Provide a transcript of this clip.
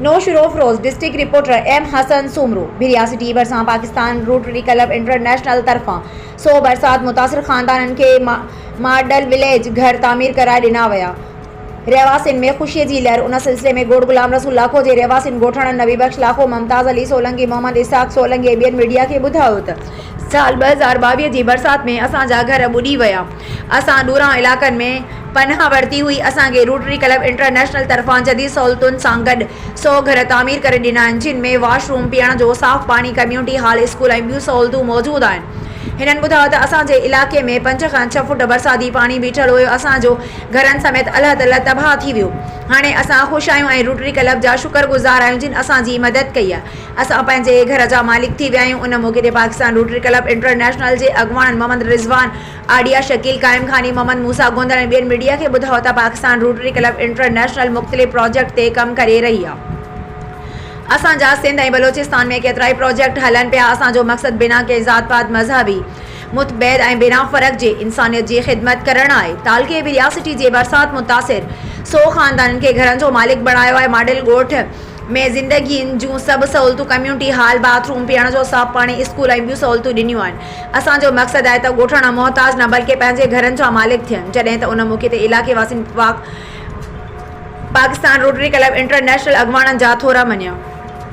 Naushahro Feroze, district reporter M Hassan Soomro, Bhiria city ڀرسان Pakistan Rotary club international طرفان سؤ برسات متاثر خاندانن کي ماڊل وليج گهر تعمير ڪرائي ڏنا ويا، رهواسين ۾ خوشي جي لھر، ان سلسلي ۾ ڳوٺ غلام رسول لاکو جي رهواسين ڳوٺاڻن نبي بخش لاکو، ممتاز علي سولنگي، محمد اسحاق سولنگي ۽ ٻين ميڊيا کي ٻڌايو ته. سال ٻه هزار ٻاويهه جي برسات ۾ اسان جا گهر ٻڏي ويا. اسان ڏورانهن علائقن ۾ پناهه ورتي هئي، اسان کي روٽري ڪلب انٽرنيشنل طرفان جديد سهولتن سان گڏ سؤ گهر تعمير ڪري ڏنا آهن، جن ۾ واش روم، پيئڻ جو صاف پاڻي، ڪميونٽي هال، اسڪول ۽ ٻيون سهولتون موجود آهن. هنن ٻڌايو ته اسان جي علائقي ۾ پنج کان ڇهه فوٽ برساتي پاڻي بيٺل هيو، اسان جو گهرن سميت الله تعاليٰ تباهه ٿي ويو، هاڻي اسان خوش آهيون ۽ روٽري ڪلب جا شڪرگذار آهيون جن اسان جي مدد ڪئي آهي، اسان پنهنجي گهر جا مالڪ ٿي ويا آهيون، ان موقعي تي پاڪستان روٽري ڪلب انٽرنيشنل جي اڳواڻن محمد رضوان، آريا شڪيل، قائم خاني، محمد موسيٰ گوندڙ ۽ ٻين ميڊيا کي ٻڌايو ته Pakistan Rotary Club international مختلف پراجيڪٽ تي ڪم ڪري رهي آهي. اسان جا سنڌ ۽ بلوچستان ۾ ڪيترائي پراجيڪٽ هلن پيا، اسان جو مقصد بنا ڪنهن ذات پات، مذهبي متڀيد ۽ بنا فرق جي انسانيت جي خدمت ڪرڻ آهي. تعلقي بليا سٽي جي برسات متاثر سؤ خاندانن کي گهرن جو مالڪ بڻايو آهي، ماڊل ڳوٺ ۾ زندگين جون سڀ سهولتون، ڪميونٽي هال، باٿ روم، پيئڻ جو صاف پاڻي، اسڪول ۽ ٻيون سهولتون ڏنيون آهن. اسان جو مقصد آهي ته ڳوٺ رهڻا محتاج نه بلڪه پنهنجي گهرن جا مالڪ ٿين جڏهن ته ان موقعي تي علائقي واسين پاڪ پاڪستان روٽري ڪلب انٽرنيشنل اڳواڻن جا ٿورا مڃيا.